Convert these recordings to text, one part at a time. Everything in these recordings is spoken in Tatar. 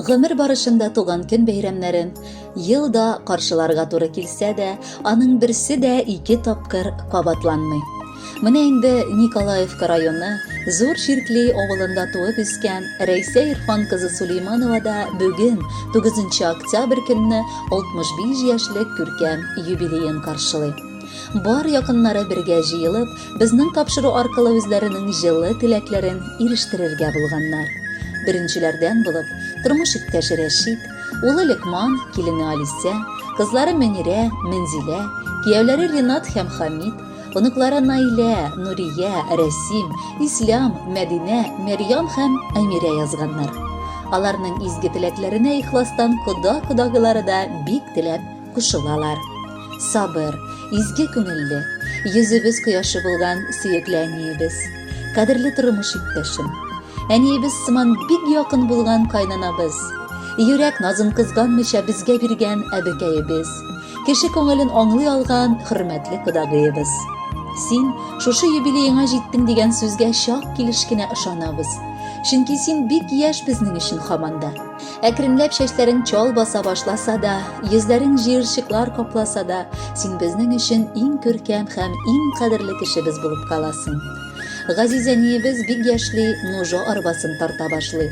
Гомер барышында туган көн бәйрәмнәрен елда каршыларга туры килсә дә, аның берсе дә ике тапкыр кабатланмый. Менә инде Николаевка районы Зур Чиркли авылында туып үскән Рәйсә Ирфан кызы Сулейманова да бүген, 9 нчы октябрь көнне 65 яшьлек күркәм юбилеен каршылый. Бар якыннары бергә җыелып, безнең тапшыру аркылы үзләренең җылы теләкләрен ирештерергә булганнар. Беренчеләрдән булып, тормыш иптәше Рәшит, улы Лекман, килене Алисә, кызлары Мөнирә, Мөнзилә, кияүләре Ринат һәм Хамит, Оныклары Наилә, Нурия, Рәсим, Ислам, Мәдинә, Мәрьям һәм Әмирә язганнар. Аларның изге теләкләренә ихластан кода-кодагылары да бик теләп кушылалар. Сабыр, изге күңелле, йөзебез кояшы булган сөекле әниебез, кадерле тормыш иптәшем, әниебез сыман бик якын булган кайнанабыз, йөрәк назын кызганмыйча безгә биргән әбекәебез, Кеше күңелен аңлый алган хөрмәтле кодагыебыз. Син шушы юбилееңа җиттең дигән сүзгә чак килеш кенә ышанабыз. Чөнки син бик яшь безнең өчен хаманда. Әкренләп чәчләрең чал баса башласа да, йөзләрең җыерчыклар капласа да, син безнең өчен иң күркәм һәм иң кадерле кешебез булып каласың. Газиз әниебез бик яшьли Нужо арбасын тарта башлый.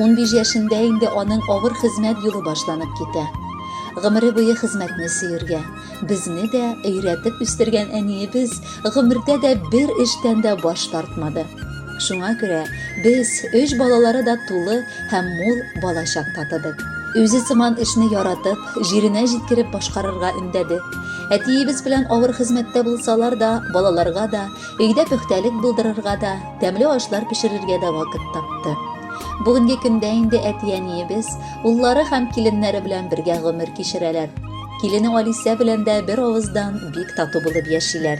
Унбиш яшендә инде аның авыр хезмәт юлы башланып китә. Гомере буе хезмәтне сөергә, безне дә өйрәтеп үстергән әниебез гомердә дә бер эштән дә баш тартмады. Шуңа күрә без өч балалары да тулы һәм мул балачак татыдык. Үзе сыман эшне яратып, җиренә җиткереп башкарырга өндәде. Әтиебез белән авыр хезмәттә булсалар да, балаларга да, өйдә пөхтәлек булдырырга да, Тәмле ашлар пешерергә дә вакыт тапты. Бүгенге көндә инде әти-әниебез, уллары һәм киленнәре белән бергә гомер кичерәләр. Килене Алисә белән дә бер авыздан бик тату булып яшиләр.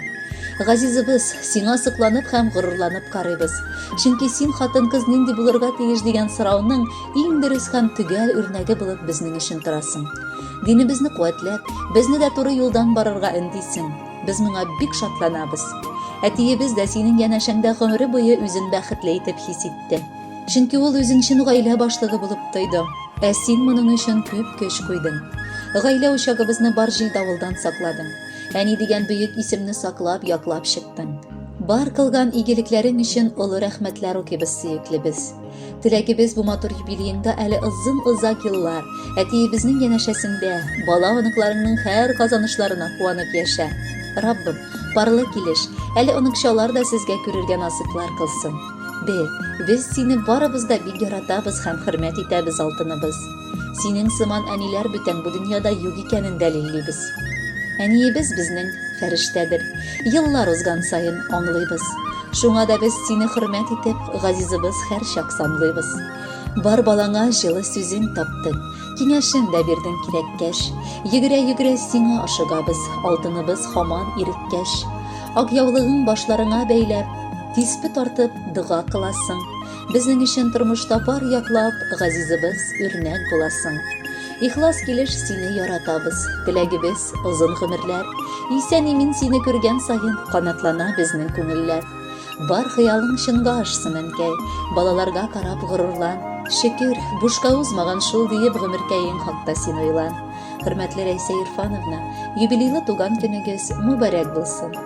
Газизыбыз, сиңа сокланып һәм горурланып карыйбыз. Чөнки син хатын-кыз нинди булырга тиеш дигән сорауның иң дөрес һәм төгәл үрнәге булып безнең өчен торасың. Динебезне куәтләп, безне дә туры юлдан барырга өндисең. Без моңа бик шатланабыз. Әтиебез дә синең янәшәңдә гомере буе үзен бәхетле итеп хис итте. Чөнки ул үзен чын гаилә башлыгы булып тойды. Ә син моның өчен күп көч куйдың. Гаилә учагыбызны бар җил-давылдан сакладың. Әни дигән бөек исемне саклап, яклап чыктың. Бар кылган игелекләрең өчен олы рәхмәтләр укыйбыз, сөеклебез. Теләгебез бу матур юбилееңда әле озын-озак еллар әтиебезнең янәшәсендә бала-оныкларыңның һәр казанышларына куанып яшә. Раббым, парлы килеш, әле оныкчалар да сезгә күрергә насыйплар кылсын. Бел, без сине барыбыз да бик яратабыз һәм хөрмәт итәбез, алтыныбыз. Синең сыман әниләр бүтән бу дөньяда юк икәнен дәлиллибез. Әниебез безнең, фәрештәдер. Еллар узган саен аңлыйбыз. Шуңа да без сине хөрмәт итеп, газизыбыз һәрчак санлыйбыз. Бар балаңа җылы сүзең таптың, киңәшең дә бирдең кирәккәч. Йөгерә-йөгерә сиңа ашыгабыз, алтыныбыз һаман иреккәч. Ак яулыгың башларыңа бәйләп, тиспе тартып, дога кыласың. Безнең өчен тормышта бар яклап, газизыбыз, үрнәк буласың. Ихлас килеш сине яратабыз. Теләгебез, озын гомерләр. Исән имин сине күргән саен, канатлана безнең күңелләр. Бар хыялың чынга ашсын, әнкәй. Балаларга карап горурлан. Шөкер, бушка узмаган шул диеп гомеркәең хакта син уйлан. Хөрмәтле Рәйсә Ирфановна, юбилейлы туган көнегез мөбарәк булсын.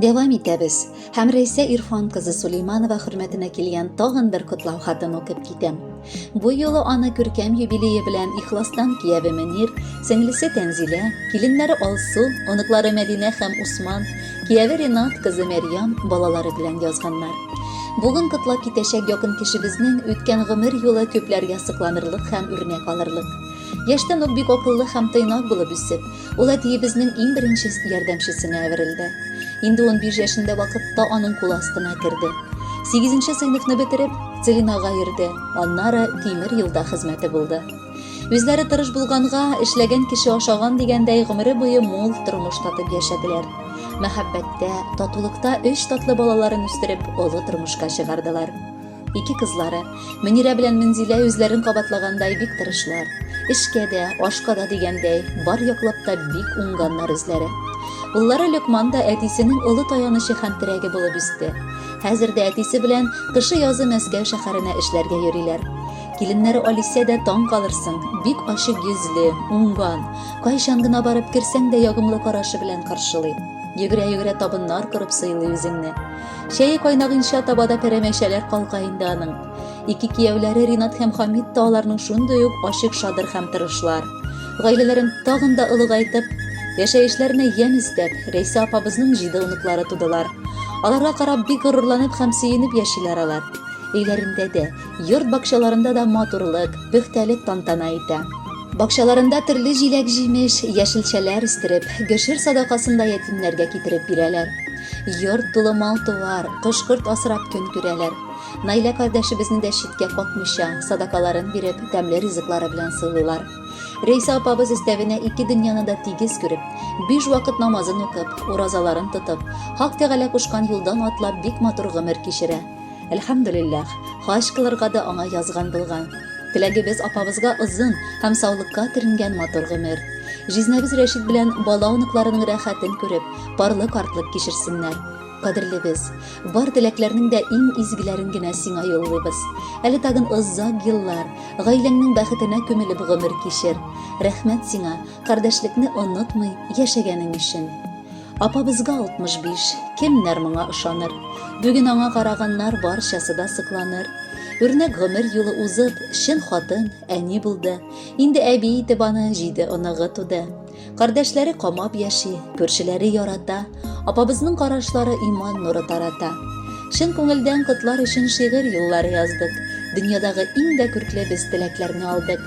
Дәвам итәбез. Һәм Рәйсә Ирфан кызы Сулейманова хөрмәтенә килгән тагын бер котлау хатын укып китәм. Бу юлы аны күркәм юбилее белән ихластан кияве Мөнир, сеңлесе Тәнзилә, киленнәре Алсу, оныклары Мәдинә һәм Усман, кияве Ренат кызы Мәрьям балалары белән язганнар. Бүген котлап китәчәк якын кешебезнең үткән гомер юлы күпләргә сокланырлык һәм үрнәк алырлык. Яшьтән үк бик акыллы һәм тыйнак булып үсеп, ул әтиебезнең иң беренче ярдәмчесенә әверелде. Инде унбиш яшендә вакытта аның кул астына керде. Сигезенче сыйныфны бетереп, Целинага йөрде, аннары тимер юлда хезмәте булды. Үзләре тырыш булганга, эшләгән кеше ашаган дигәндәй гомере буе мул тормыш татып яшәделәр. Мәхәббәттә, татулыкта өч татлы балаларын үстереп, олы тормышка чыгардылар. Ике кызлары, Мөнирә белән Мөнзилә үзләрен кабатлагандай бик тырышлар. Эшкә дә, ашка да дигәндәй, бар яклап та бик уңганнар үзләре. Уллары Лөкман да әтисенең олы таянычы һәм терәге булып үсте. Хәзер дә әтисе белән кышы-язы Мәскәү шәһәренә эшләргә йөриләр. Киленнәре Алисә дә таң калырсың, бик ачык йөзле, уңган, кайчан гына барып керсәң дә ягымлы карашы белән каршылый. Йөгерә-йөгерә табыннар корып сыйлый үзеңне. Чәе кайнагынча таба да пәрәмәчәләр калка инде аның. Ике кияүләре Ринат һәм Хамид та аларның шундый ук ачык шадыр һәм тырышлар. Гаиләләрен тагын да олыгайтып, яшәешләренә ямь өстәп, Рәйсә апабызның җиде оныклары тудылар. Аларга карап бик горурланып һәм сөенеп яшиләр алар. Өйләрендә дә, Йорт бакчаларында да матурлык, пөхтәлек тантана итә. Бакчаларында төрле җиләк-җимеш, яшелчәләр үстереп, гшер садакасын да ятимнәргә китереп бирәләр. Йорт тулы мал-туар, кош-корт асрап көн күрәләр. Наилә кардәшебезне дә читкә какмыйча, садакаларын биреп, тәмле ризыклары белән сыйлыйлар. Рәйсә апабыз өстәвенә ике дөньяны да тигез күреп, биш вакыт намазын укып, уразаларын тотып, Хак Тәгалә кушкан юлдан атлап бик матур гомер кичерә. Әлхәмдулилләх, хаҗ кылырга да аңа язган булган. Теләгебез апабызга озын һәм саулыкка төренгән матур гомер. Җизнәбез Рәшит белән бала-оныкларының рәхәтен күреп, парлы картлык кичерсеннәр. Кадерлебез, бар теләкләрнең дә иң изгеләрен генә сиңа юллыйбыз. Әле тагын озак еллар, гаиләңнең бәхетенә күмелеп гомер кичер. Рәхмәт сиңа, Кардәшлекне онытмый яшәгәнең өчен. Апабызга 65, кемнәр моңа ышаныр? Бүген аңа караганнар барчасы да сыкланыр. Үрнәк гомер юлы узып, чын хатын, әни булды. Инде әби итеп аны җиде оныгы туды. Кардәшләре камап яши, күршеләре ярата. Апабызның карашлары иман нуры тарата. Чын күңелдән котлар өчен шигырь юллары яздык. Дөньядагы иң дә күркле без теләкләрне алдык.